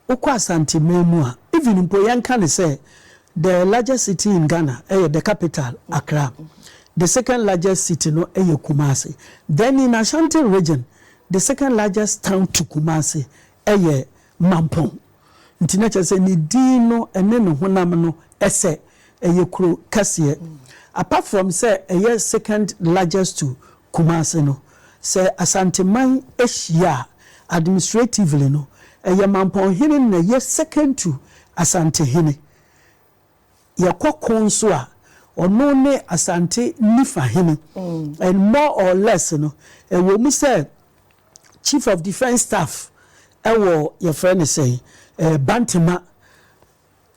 Wokɔ Asanteman mu a, even mpo yɛnka no sɛ the largest city in Ghana yɛ the capital Accra, the second largest city no yɛ Kumasi, then in Ashanti region the second largest town to Kumasi yɛ Mampong. Nti na kyerɛ sɛ ne din no ne ne honam no sɛ Ɛyɛ kuro kɛseɛ. Apart from sɛ ɛyɛ second largest to Kumasi no, sɛ Asanteman hyia a, administratively no, ɛyɛ Mampɔnhene na ɛyɛ second to Asantehene. Yɛkɔ ko nso a, ɔno ne Asante nifa hene. And more or less no, ɛwɔ mu sɛ Chief of Defence Staff wɔ yɛfrɛ no sɛn, Bantema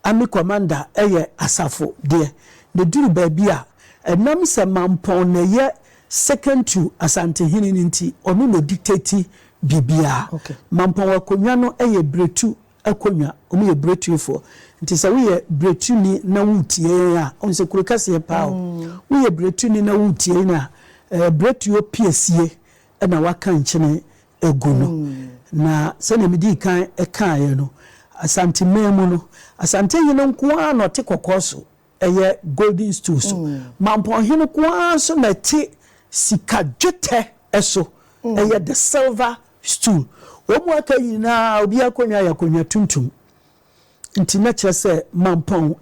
Army Commander yɛ asafo deɛ, na ɛduru baabi a, ɛnam sɛ Mampɔn na ɛyɛ second to Asantehene no nti, ɔno na ɔdictate biribiara. Mampɔn akonnwa no yɛ Biretu akonnwa, wɔyɛ Biretufoɔ. Nti sɛ woyɛ Biretuni na woretie yɛn a, wohu sɛ kuro kɛseɛ paa o, woyɛ Biretuni na woretie yɛn a, Biretuo piesie na woaka nkyene agu no. Na sɛnea midii kan kaeɛ no, Asanteman mu no, Asantehene nko ara na ɔte kɔkɔɔ so, ɛyɛ golden stool so. Mampɔnhene nko ara nso na ɛte sika dwetɛ so, ɛyɛ the silver stool. Wɔn a aka nyinaa, obiara akonnwa yɛ akonnwa tuntum. Nti na kyerɛ sɛ Mampɔn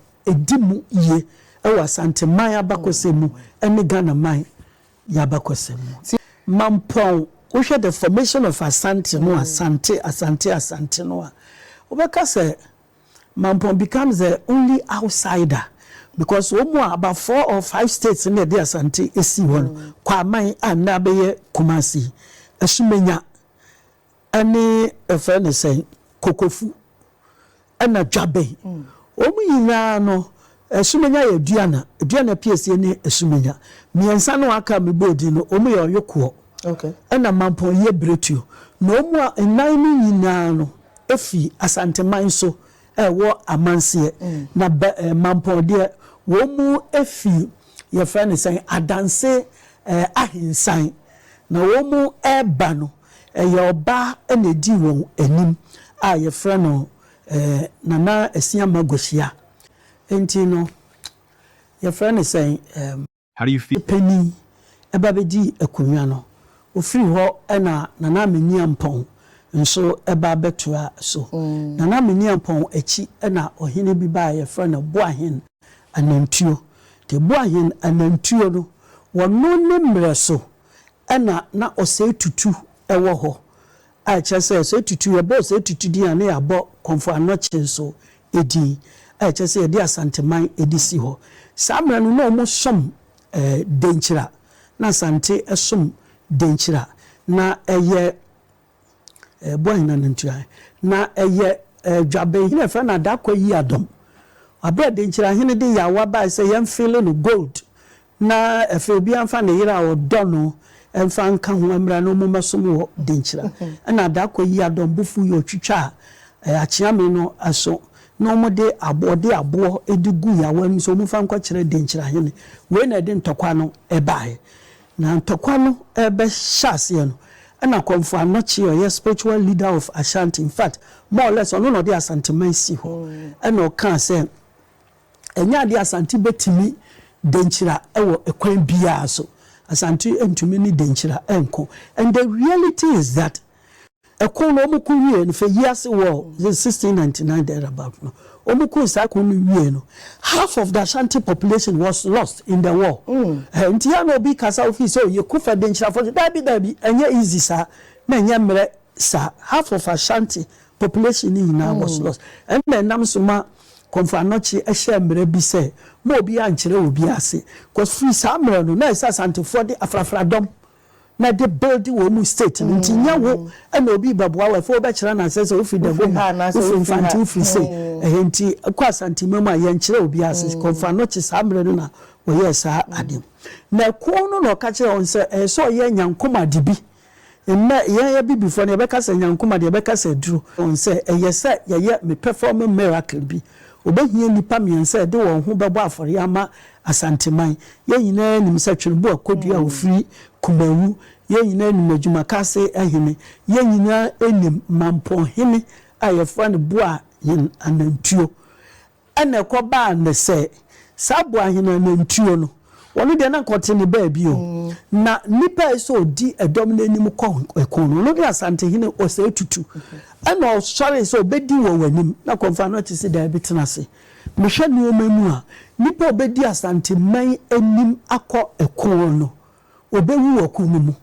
di mu yie wɔ Asanteman abakɔsɛm mu ne Ghanaman y'abakɔsɛm mu. Sɛ. Mampɔn, wohwɛ the formation of Asante no, Asante, Asante, Asante no a, wobɛka sɛ Mampɔn becomes the only outsider because wɔn a about four or five states na ɛde Asante sii hɔ no, Kwaman a nnɛ abɛyɛ Kumasi, Asumenya, ɛne yɛfrɛ no sɛn kokofu ɛna dwabɛn wɔn nyinaa no asumenya yɛ aduana aduana piesie ne asumenya mmiɛnsa no aka me bɔɔ din no wɔn yɛ ɔyokoɔ ɛna mampɔn yɛ biretuo na wɔn a nnan no nyinaa no efi asanteman so ɛwɔ amanseɛ na bɛ ɛɛ mampɔn deɛ wɔn efi yɛfrɛ no sɛn adanse ɛɛ ahensan na wɔn ɛɛba no. Ɛyɛ ɔbaa na edii wɔn anim a yɛfrɛ no Nana Asiamah Gosia. Enti no yɛfrɛ no sɛn? Harifie panin ba bɛdii akonnwa no. Ɔfiri hɔ na Nana Meniampɔn nso ba bɛtoaa so. Nana Meniampɔn akyi na ɔhene bi baa a yɛfrɛ no Boahen Anantuo. Nti Boahen Anantuo no, wɔno ne mmerɛ so Ɛnna na ɔsɛe tutu wɔ hɔ, a ɛkyerɛ sɛ ɔsɛe tutu, yɛbɔ ɔsɛe tutu din a, na yɛabɔ Kɔmfo Anokye nso din, a ɛkyerɛ sɛ yɛde Asanteman de si hɔ. Saa mmerɛ no, na wɔsom Denkyira, na Asante som Denkyira. Na ɛyɛ Ɛboa hena no ntua? Na ɛyɛ dwaben. Hena ɛfrɛ no adakɔ yi adɔm? Aberɛ a denkyirahene de yawa bae sɛ yɛmfeele no gold na ɛfei obiara mfa ne yere a ɔdɔ no mfa nka ho mmra na wɔmmɛsom wɔ denkyira. Ɛna adakɔ yi adɔm bo fuui, ɔtwitwaa akyeame no aso na wɔde aboɔ, ɔde aboɔ de guu yawa anim sɛ wɔmfa nkɔkyerɛ denkyirahene. Wei na ɛde ntɔkwa no baeɛ. Na ntɔkwa no rebɛhyɛ aseɛ no, ɛna Komfo Anokye a ɔyɛ spiritual leader of Ashanti, in fact, more or less ɔno na ɔde Asanteman sii hɔ, ɛna ɔkaa sɛ, Ɛnyɛ adeɛ a Asante bɛtumi denkyira wɔ kwan biara so. Asante ntumi ne denkyira nko. And the reality is that Ɛko no wɔn ko wie no fɛ yiase wɔ the sixteen ninety nine there about no wɔn ko saa ko no wie no half of the Ashanti population was lost in the war ɛɛ nti yɛ na obi kasa ofi sɛ oye ko fɛ de nkyerɛfo so daabi daabi ɛnyɛ easy saa na ɛnyɛ mmerɛ saa half of Ashanti population ne nyinaa was lost ɛna ɛnam so ma Komfo Anokye ɛhyɛ mmerɛ bi sɛ ma obi ankyerɛ obi ase cause firi saa mmerɛ no na ɛsɛ Asantefoɔ de afrafra dɔm na de build wɔn mu state no nti nyɛ wo ɛna obi bɛboa wo ɛfɛ wobɛkyerɛ no asɛ sɛ wofiri da home wofiri mfante wofiri se ɛhɛ nti kɔ asantema mu a yɛnkyerɛ obi ase kɔmfa no kye saa mmerɛ no na wɔyɛɛ saa adeɛ na ɛko no na ɔka kyerɛ wɔn sɛ ɛyɛ sɛ ɔyɛ nyankomade bi mmɛ yɛn abibifoɔ no yɛbɛka sɛ nyankomade yɛbɛka sɛ aduro wɔn sɛ ɛyɛ sɛ yɛyɛ me perform miracle bi wɔbɛhia nnipa mmiɛnsa ɛde wɔn ho bɛbɔ afɔre ama Asanteman. Yɛn nyinaa nim sɛ Tweneboa a Kodua a ɔfiri Kumawu, yɛn nyinaa nim Adwumakase hene, yɛn nyinaa nim Mampɔn hene a yɛfrɛ no Boahen Anantuo. Ɛna ɛkɔbaa nnɛ sɛ saa Boahen Anantuo no, ɔno deɛ na anka ɔte ne baabi o, na ne pɛ sɛ ɔdi ɛdɔm no anim kɔ ɛko no, ɔno ne Asantehene Osei Tutu. Ɛna ɔsɔree sɛ ɔbɛdi wɔ w'anim, na Kɔmfoano te se daabi, tena ase. Mehwɛ nnoɔma mu a, nipa a ɔbɛdi Asanteman anim akɔ ɛkoɔ no, ɔbɛwu wɔ ko no mu.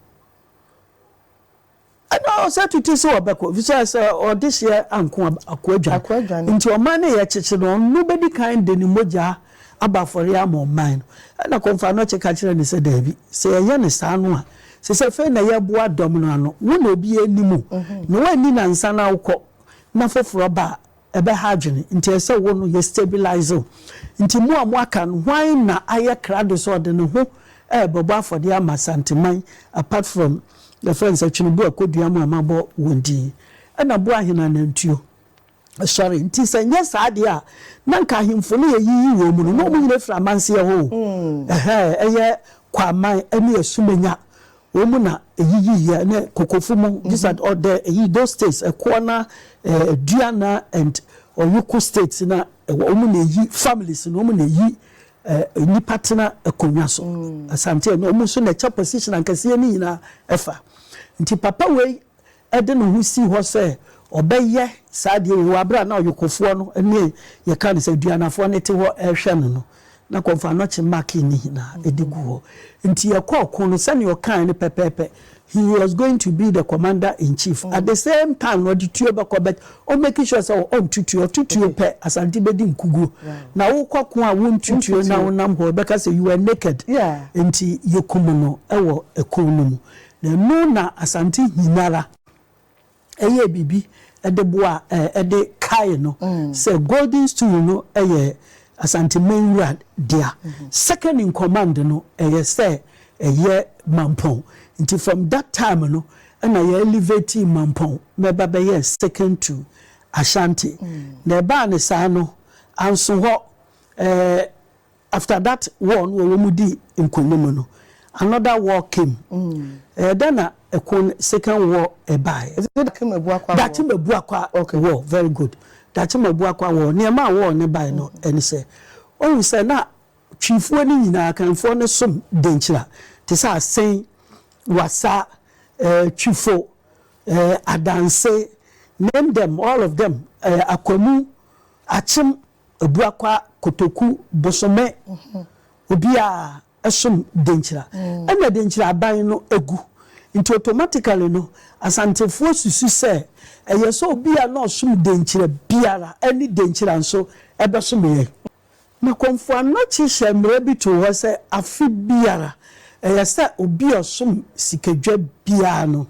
Ɛna ɔsɛ tete sɛ ɔbɛkɔ, fisɛ sɛ ɔde hyeɛ anko a, ako adwane. Nti ɔman no yɛ kyekye no, ɔno bɛdi kan de ne mogya abɔ afɔreɛ ama ɔman no. Ɛna Kɔmfoanɔkye ka kyerɛɛ no sɛ, daabi, sɛ yɛyɛ no saa no a, te sɛ afei na yɛreboa dɔm no ano. Wo na obiara nnim wo, na woanni nnansa na wokɔ, na foforɔ ba a, ɛbɛha adwene nti ɛsɛ sɛ wo no yɛ stabilise wo. Nti mo a mo aka no hwan na ayɛ krado sɛ ɔde ne ho ɛɛbɛbɔ afɔdeɛ ama Asanteman apart from yɛfrɛ no sɛ Tweneboa Akɔdua mo a mo abɔ wɔn din ɛna boa ahene anantuo sɔre nti sɛ nyɛ saa deɛ a na nka ahemfo no yɛ yiyi wɔn mu no na wɔn nyina firi amanseɛ hɔ o ɛhɛɛ ɛyɛ Kwaman ɛne Asumenya Wɔn mu na eyiyii yɛ ne kokofo mu gisad ɔ dɛ eyi those states ɛkoɔ na dua na and ɔyoko states na ɛwɔ wɔn mu na eyi families na wɔn mu na eyi ɛ nipa tena ɛkonwa so asante na wɔn mu nso na ɛkyɛ position ankɛseɛ ne nyinaa ɛfa nti papa wei. de ne ho sii hɔ sɛ ɔbɛyɛ saa adeɛ yi wɔ aberɛ a na ɔyokofoɔ no ne yɛka no sɛ aduanafoɔ no te hɔ rehwɛ no no, na kɔmfoanɔkye make no nyinaa ɛdi gu hɔ. Nti yɛkɔ ɔko no sɛdeɛ ɔkaeɛ no pɛpɛɛpɛ, he was going to be the commander in chief, at the same time na ɔde tuo bɛkɔ but ɔ make sure sɛ ɔnto tuo, ɔto tuo pɛ Asante bɛdi nkuguo. Na wokɔ ɔko a wonto tuo na wonam hɔ, ɛbɛka sɛ you were naked. Nti yɛkum no wɔ ɛko no mu. Na ɛno na Asante nyinara yɛɛ biribi de boaa de kaee no sɛ Golden Stool no yɛ Asante man wura dea. Second in command no yɛ sɛ ɛyɛ Mampɔn. Nti from that time no na yɛ elevatii Mampɔn ma ɛba bɛyɛɛ second to Ashanti. Na ɛbaa no saa no, anso hɔ, After that war no a wɔn dii nkonim no, another war came. Ɛyɛ dɛn na ɛko no, second war baeɛ? Is it Daakye Mabuakwa war? Daakye Mabuakwa okay. war, very good. Daakye Mabuakwa war, nea ɛmaa war no baeɛ no ɛne sɛ, wohu sɛ na Twifoɔ no nyinaa, Kanfoɔ no som Denkyira, te sɛ Asen, Wassa, eh, Twifo, eh, Adanse, name them, all of them, eh, Akwamu, Akyem, Abuakwa kotoku bosome obiaa som denkyira ɛna denkyira aban no agu nti automatically no asantefoɔ susu sɛ ɛyɛ sɛ obia na ɔsom denkyira biara ɛne denkyira nso ɛbɛsom yɛn. Na Kɔmfo Anokye hyɛɛ mmara bi too hɔ sɛ afe biara ɛyɛ sɛ obia ɔsom sikadwa biara no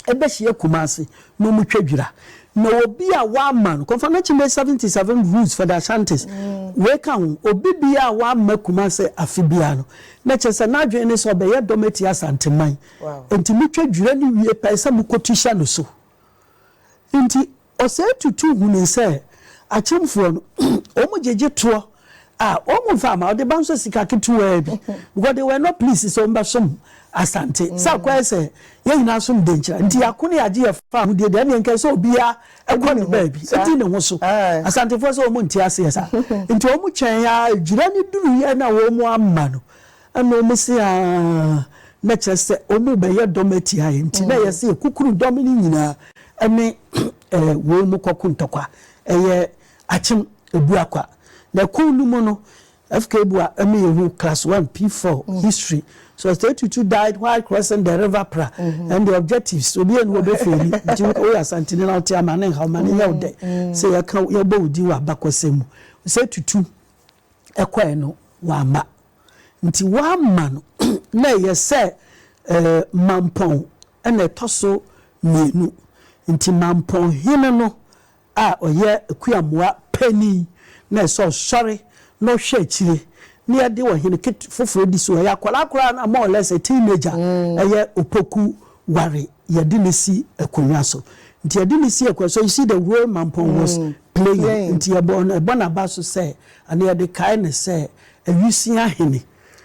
ɛbɛhyia Kumasi na ɔmo twa dwira na obi a w'amma no Kɔnfanachi May seventy seven Roots for the Ashantis wei ka ho obi biaa a w'amma Kumasi afe biaa no na kyerɛ sɛ n'adwene ne sɛ ɔbɛyɛ dɔm atia Asanteman nti mo twa dwira no wie pɛ ɛsɛ mo kɔ tu hyɛ no so nti Ɔsɛe Tutu hunuu sɛ akyemfoɔ no, wɔn gyegye toɔ a, wɔn mfa mma, ɔde ba nso sika ketewaa bi, because they were not pleased sɛ wɔn bɛsom Asante, sɛ akɔ ayɛ sɛ yɛn nyinaa som Denkyira, nti yɛako ne yɛagye yɛn fa ahodie deɛ, ɛnneɛ nka ɛsɛ sɛ obiara kɔ ne baabi, di ne ho so, Asantefoɔ sɛ wɔn nte aseɛ saa, nti wɔn twɛn ara, dwira no duruiɛ na wɔamma no, Ɛna wɔn se, Aane, na kyerɛ sɛ wɔn rebɛyɛ dɔm atia yɛn, enti na ɛyɛ sɛ yɛkukum dɔm no nyinaa ne wei mu kɔko ntɔkwa. Ɛyɛ akyem bua kwa. Na ɛko no mu no, FKBua ma yɛhu Class One, P-Four, History, Sɔsitɛɛ Tutu died while crossing the River Pra and the objectives, obi ani hɔ bɛfeeli, nti woyɛ Asanteni na wote a ma no nha wo, ma no nyɛ wo dɛ sɛ yɛka wo, yɛbɔ wo din wɔ abakɔsɛm mu. Sɛ Tutu. ɛkɔɛ no wamma. Nti wamma no na ɛyɛ sɛ mampɔn na ɛtɔ so mmienu. Nti mampɔn hene no a ɔyɛ akuamoa panin na ɛsɛ sɛ ɔsɔre na ɔhwɛ akyire na yɛde ɔhene foforɔ di so. Ɛyɛ akwadaa koraa na more or less a teenager, ɛyɛ opoku ware. Yɛde no si akonnwa so. Nti yɛde no si akonnwa so. So you see the way Mampong was playing? Nti yɛbɔ no, ɛbɔ n'aba so sɛ, anaa yɛde kae no sɛ Awusia Hene.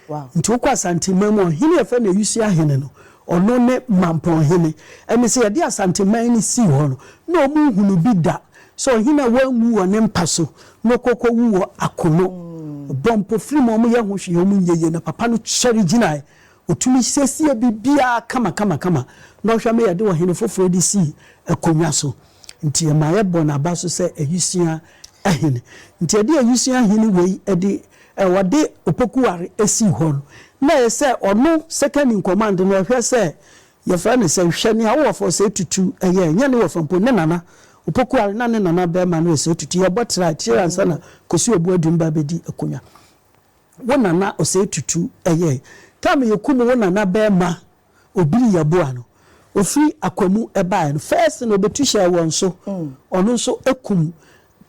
Nti wokɔ Asanteman mu a, ɔhene a yɛfrɛ no Awusia Hene no, ɔno ne Mampong Hene. Ɛne sɛ yɛde Asanteman no sii hɔ no, na wɔnhunu bi da sɛ ɔhene a wanwu wɔ ne mpa so na ɔkɔ kɔwu wɔ akono. Wɔbɔ mpofirim, wɔyɛ ho hwee, wɔnyɛ yie. Na papa no sɔre gyinae, Otumi siesie biribiara kamakamakama na ɔhwɛ ma yɛde ɔhene foforo de si akonnwa so. Nti ɛma yɛbɔ n'aba so sɛ awusua hene. Nti ɛde awusua hene wei de ɛ ɔde Opokuware sii hɔ no, na ɛyɛ sɛ ɔno second in command no ɔhwɛ sɛ yɛfrɛ no sɛ hwɛ nea wo wɔfa Osei-Tutu yɛ, ɛnyɛ ne wɔfa mpo, ne nana Opokuware na ne nana barima ne Osei-Tutu yɛbɔ tra akyire ansa na Kosi Obuadum ba bɛdi akonnwa. Wo nana osei tutu ɛyɛɛ time yɛkum wo nana bɛɛma obiri yɛboa no ofiri akwamu ɛbaɛ no first no obetu hyɛɛ wɔn so ɔno nso ɛkum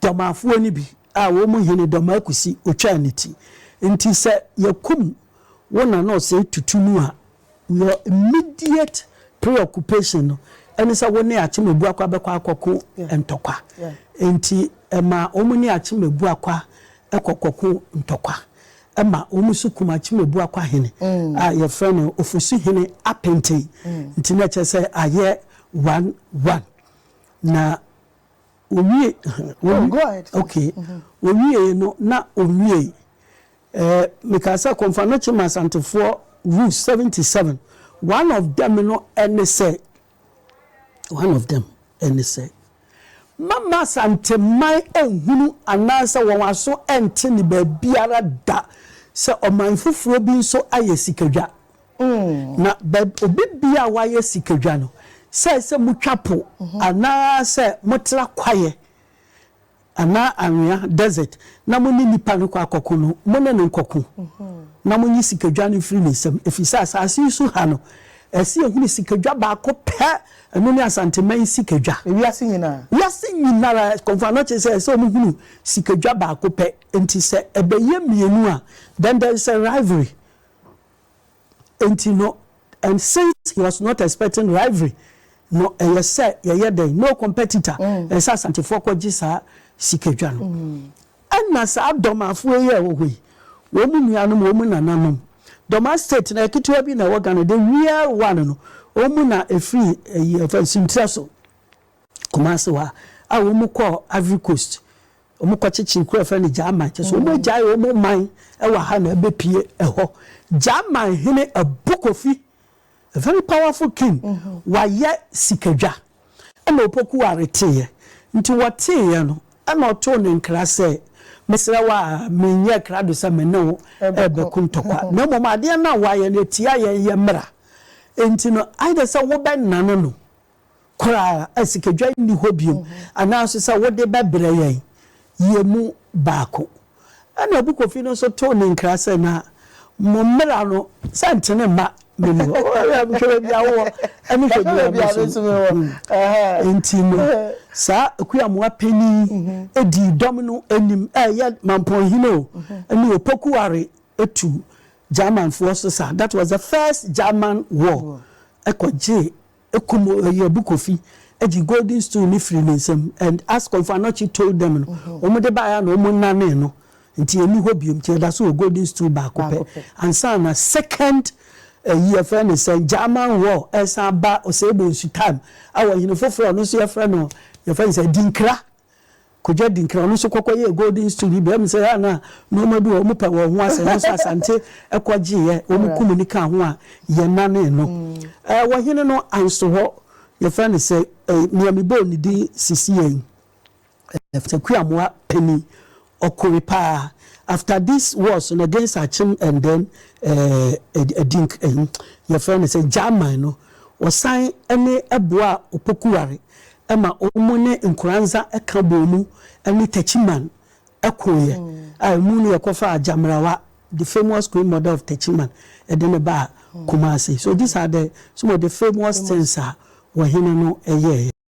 dɔmaafoɔ no bi a wɔn mu hene dɔmaa kusi otwaa ne ti nti sɛ yɛkum wo nana osei tutu no a Your immediate preoccupation no ne sɛ wo ne Akyem-Abuakwa bɛkɔ akɔko ntɔkwa. Enti ɛma wɔn ne Akyem-Abuakwa kɔ kɔko ntɔkwa. Ɛma wɔn nso kum Akyem-Abuakwa hene a wɔfrɛ no Ofosuhene Apenten. Nti na ɛkyerɛ sɛ ayɛ one one. Na Owie yɛ no na owiei. Ɛɛ me ka sɛ Konfanoche ma Asantefoɔ rules seventy seven. One of them no ɛne sɛ, one of them ɛne sɛ, mɛ ma Asanteman ɛnhunu anaa sɛ wɔn aso ɛnte ne baabiara da sɛ ɔman foforɔ bi nso ayɛ sikadwa. Na baabi obi bia a wayɛ sikadwa no, sɛ sɛ motwa po anaa sɛ motra kwaeɛ anaa anwea, desert, na mo ne nipa no kɔ akɔko no, mo ne no nkɔko, na monyi sikadwa no mfiri ne nsam, ɛfiri sɛ asase yi so ha no, ɛsɛ yɛhunu sikadwa baako pɛ, ɛno ne Asanteman sikadwa. Wiase nyinaa? Wiase nyinara, kɔmfoɔ no kyerɛ sɛ ɛsɛ sɛ wɔhunu sikadwa baako pɛ, nti sɛ ɛbɛyɛ mmienu a, then there is a rivalry. Enti no, and since he was not expecting rivalry, no ɛyɛ sɛ yɛyɛ dɛn? No competitor, ɛyɛ sɛ Asantefoɔ kɔgye saa sikadwa no. Ɛna saa Domafoɔ yi a ɛwɔ hɔ yi, wɔn nuanom, wɔn nananom, Doma state no ɛyɛ ketewa bi na ɛwɔ Ghana, the real one no, wɔn na ɛfiri ɛyi, ɛfɛ, Nsuntire so, Kumasi hɔ a, a wɔn kɔɔ Ivory Coast, Wɔn kɔkyekyere kuro a yɛfrɛ no Gyaman kyerɛ sɛ wɔn agyae wɔn man wɔ ha na abɛpue hɔ. Gyaman hene Abu Kofi, a very powerful king, wayɛ sikadwa ɛna Opoku Ware teeɛ. Nti wɔteeɛ no ɛna ɔtoo no nkra sɛ, Mesrɛ wo a menyɛɛ krado sɛ me ne wo rebɛko ntɔkwa na mmom adeɛ no a woayɛ no ɛtia yɛn yɛ mmara. Nti no either sɛ wobɛnane no koraa a sikadwa nni hɔ bio anaaso sɛ wode bɛbrɛ yɛn yɛ mu baako. Ɛna Abu Kofi no nso too ne nkra sɛ, Na mo mmara no sɛ ntene mma menni hɔ. Hwɛ baabi a wowɔ ne hwɛ baabi a me nso mewɔ. Enti no, saa Akuamoa panin yi dii dɔm no anim, ɛyɛ Mampong Hene o, ne Opoku Ware tu Germanfoɔ so saa. That was the first German war, ɛkɔgyee kum Ɔyabu Kofi gye golden stool no firii ne nsam and as Komfo Anokye told them no, wɔn de baeɛ a na wɔn nanee no nti ɛnni hɔ bio nti ɛda so wɔ golden stool baako pɛ ansa na second ɛyi yɛfrɛ no sɛn German war ɛresan aba Osei Bonsu time ɛwɔ hene foforɔ a ɔno nso yɛfrɛ no yɛfrɛ no sɛ Adinkra Kojo Adinkra, ɔno nso kɔkɔyɛɛ Golden Stool bi berɛ, ɛwom sɛ ɛyɛ a na nnoɔma bi wɔ hɔ a wɔpɛ wɔn ho asɛm nanso Asante kɔgyeeɛ, wɔkum no kaa ho a yɛnanee no. Wɔ hene no anso hɔ, yɛfrɛ no sɛ, nea mebɔɔ ne din sisi yei, Sɛ Kuamoa panin, Ɔkoe paa after this war so na gains akyem and then ɛɛ ɛdi nk ɛyi yɛfrɛ no sɛ German no ɔsan ɛne ɛboa Opoku Ware ɛma ɔmo ne Nkoranza ɛka bɔɔ mu ɛne Techiman ɛkoeɛ a ɛmu no yɛkɔ faa Gyamrawa the famous Queen mother of Techiman ɛde no baa Kumasi so these are the some of the famous things a wɔhene no ɛyɛɛɛ.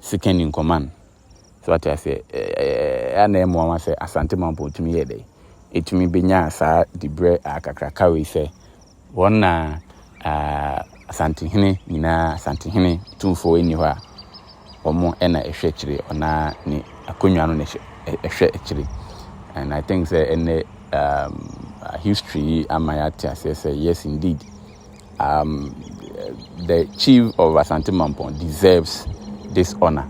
Sikani Nkoman. So wate aseɛ? Ɛyɛ a na ɛyɛ mmoawa sɛ Asante Mampong tumi yɛɛ dɛn? Ɛtumi bɛnyaa saa diberɛ a kakraka wei sɛ wɔn na Asantehene nyinaa, Asantehene tumfoɔ nni hɔ a, wɔn na ɛhwɛ akyire, wɔn ara ne akonnwa no na ɛhwɛ akyire. And I think sɛ ɛnnɛ history yi ama yɛate aseɛ sɛ yes indeed, um, the chief of Asante Mampong deserves this honor.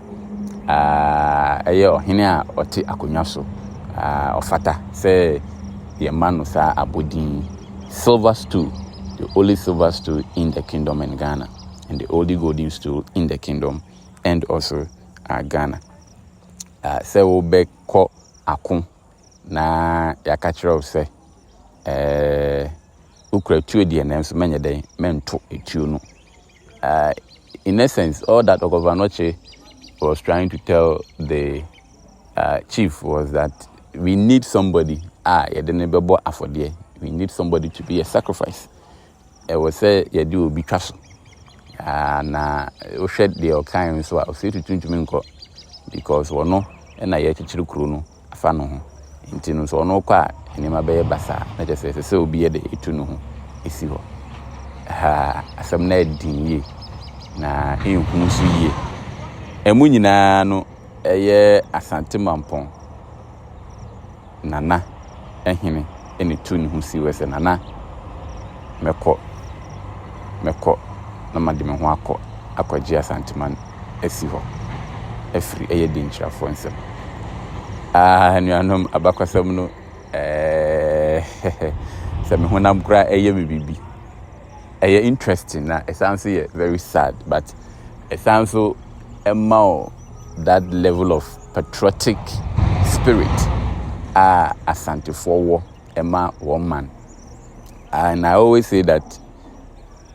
Uh, ɛyɛ ɔhene a ɔte akonnwa so. Uh, ɔfata sɛ yɛma no saa abodin. Silver stool, the only silver stool in the kingdom in Ghana, and the only golden stool in the kingdom and also uh, Ghana. Uh, sɛ wobɛkɔ ako Na yɛaka akyerɛ wo sɛ, Ɛɛ, wokura tuo deɛ, nanso mɛnyɛ dɛn? Mɛnto tuo no. Uh, in essence, all that Ogovanoche was trying to tell the uh, chief was that we need somebody a yɛde no bɛbɔ afɔdeɛ. We need somebody to be a sacrifice. ɛwɔ sɛ yɛde obi twa so. Na wohwɛ deɛ ɔkaeɛ no nso a, ɔsɛ tutu ntumi nkɔ because ɔno na yɛrekyekyere kuro no afa ne ho. Nti no sɛ ɔno kɔ a, nneɛma bɛyɛ basaa. Na kyerɛ sɛ ɛsɛ sɛ obi yɛ dɛ etu ne ho si hɔ. Ha asɛm no ayɛ den yie na ɛnhu nso yie. Ɛmu nyinaa no ɛyɛ Asante Mampɔn. Nana hene na etuu ne ho sii hɔ sɛ, Nana, mɛkɔ, mɛkɔ na made me ho akɔ akɔgye Asanteman asi hɔ afiri ɛyɛ Dinkyirafoɔ nsam. Ah, anuanom, abakɔsɛm no, eh, sɛ me honam koraa yɛ me biribi. ɛyɛ interesting na ɛsan nso yɛ very sad but ɛsan nso ɛma wo that level of patriotic spirit a asantefoɔ wɔ ɛma wɔn man and i always say that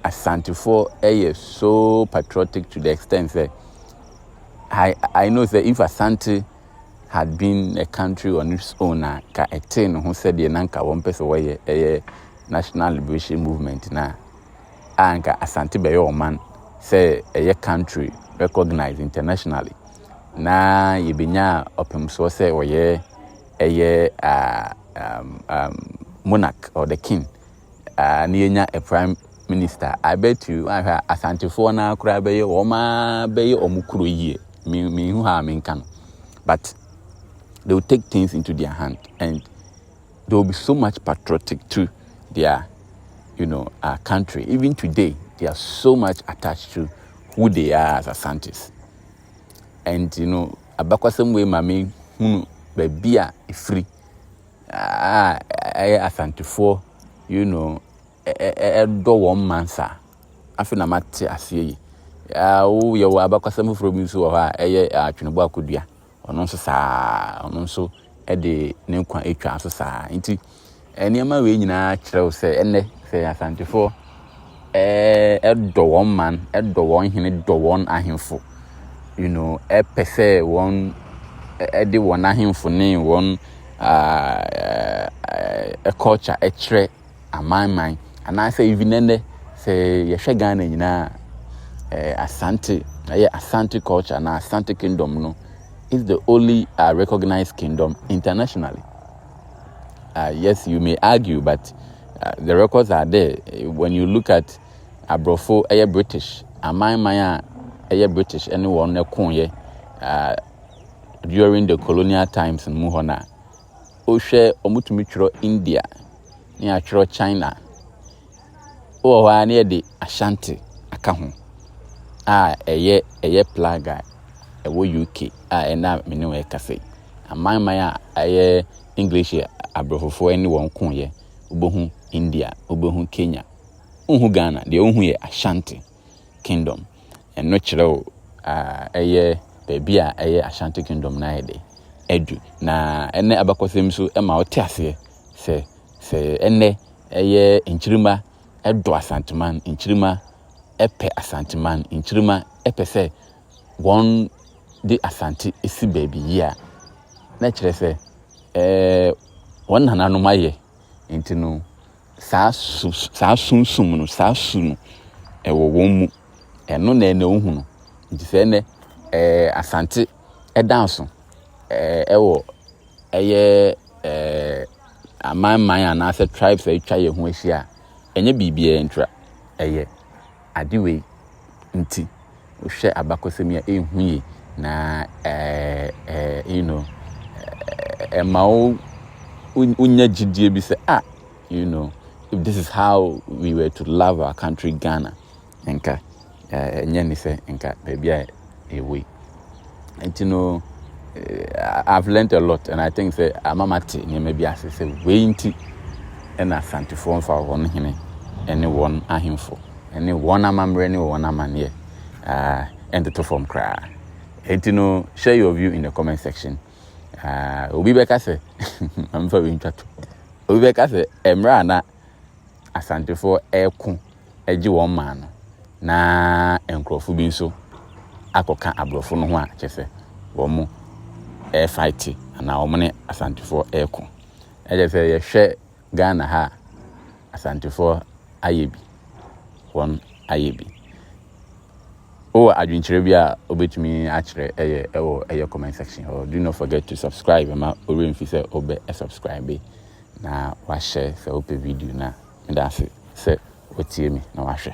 asantefoɔ ɛyɛ so patriotic to the extent sɛ i i know sɛ if asante had been a country on its own a ka ɛtee ne ho sɛdeɛ na nka wɔn pɛ sɛ wɔyɛ ɛyɛ National Liberation Movement no a, a anka Asante bɛyɛ ɔman sɛ ɛyɛ country recognized internationally na yɛbɛnya ɔpemsoɔ sɛ ɔyɛ ɛyɛ monarch or the king na yɛnya a prime minister I bet you ahwɛ a asantefoɔ no koraa bɛyɛ wɔn a bɛyɛ wɔn kuro yie mehu ha a menka no but they will take things into their hand and there will be so much patriotic to their you know our country even today they are so much attached to who they are as asantes and you know abakɔsɛm wei ma me hunu baabi a ɛfiri a ɛyɛ asantefoɔ you know ɛdɔ wɔn mansa afei na mate aseɛ yi woyɛ wɔ abakɔsɛm foforɔ bi nso wɔ hɔ a ɛyɛ atwenebɔ akodua ɔno nso saa ara, ɔno nso de ne nkwa atwa so saa ara. Nti nneɛma wei nyinaa kyerɛ wo sɛ ɛnnɛ sɛ Asantefoɔ ɛdɔ wɔn man, ɛdɔ wɔn hene, dɔ wɔn ahemfo, you know, ɛpɛ sɛ wɔn ɛde wɔn ahemfo ne wɔn uh, uh, culture ɛkyerɛ amanman anaasɛ even ɛnnɛ sɛ yɛhwɛ Ghana nyinaa eh, Asante ɛyɛ Asante culture anaa Asante kingdom no is the only uh, recognized kingdom internationally. Uh, yes, you may argue, but uh, the records are there. When you look at Abrofo, ɛyɛ eh, British, aman man a ɛyɛ eh, British ɛne wɔn ɛkoyɛ eh, during the colonial times mu hɔ na wohwɛ wɔtumi twerɛ India ne atwerɛ China wɔ hɔ ara na yɛde Ashanti aka ho a ɛyɛ ɛyɛ plug a ɛwɔ UK a ɛna a me ne wɔn ɛkasa yi amanman a ɛyɛ English aborɔfofoɔ ɛne wɔn ko yɛ wobɛhu India wobɛhu Kenya wohu Ghana deɛ wohu yɛ Ashanti. Kingdom. Ɛno kyerɛ wo ɛyɛ baabi a ɛyɛ Ashanti Kingdom no ayɛ dɛ adu. Na ɛnɛ abakɔsɛm nso ma wote aseɛ sɛ sɛ ɛnɛ ɛyɛ nkyirimma dɔ Asanteman, nkyirimma pɛ Asanteman, nkyirimma pɛ sɛ wɔde Asante si baabi yie a, na ɛkyerɛ sɛ wɔn nananom ayɛ. Nti no saa su, saa sunsum no, saa su no, ɛwɔ wɔn mu. Ɛno na ɛna ohu no. Nti sɛ ɛnɛ, ɛɛ, Asante ɛda so, ɛɛ, ɛwɔ ɛyɛ ɛɛ, amanman anaasɛ tribes a atwa yɛn ho ahyia a, ɛnyɛ biribiara ntira, ɛyɛ. ade wei nti, wohwɛ abakɔsɛm yi a, ɛnhu yie, na you know, ɛma wo wonya gyidie bi sɛ, ah, you know, if this is how we were to love our country Ghana, nka ɛnyɛ ne sɛ nka baabi a a way nti no eh, I've learnt a lot and I think sɛ ama ma te nneɛma bi ase sɛ wei nti ɛna Asantefoɔ nfa wɔn hene ɛne wɔn ahemfo ɛne wɔn amammerɛ ne wɔn amanneɛ ah, ɛntoto fam koraa nti no share your view in the comment section ah, obi bɛka sɛ mfa wei ntwa to obi bɛka sɛ mmerɛ a na Asantefoɔ reko gye wɔn man no, na nkurɔfoɔ bi nso akɔka aborɔfo no ho a kyerɛ sɛ wɔrefaete anaa wɔn ne Asantefoɔ reko. Ɛkyɛ sɛ yɛhwɛ Ghana ha a, Asantefoɔ ayɛ bi, wɔn ayɛ bi. Wowɔ adwenkyerɛ bi a wobɛtumi akyerɛ ɛyɛ ɛwɔ ɛyɛ comment section hɔ. Do not forget to subscribe ma ɔwerɛ mfi sɛ wobɛ subscribe. na wahyɛ sɛ wopɛ video no a. Medase sɛ watie me na wahwɛ.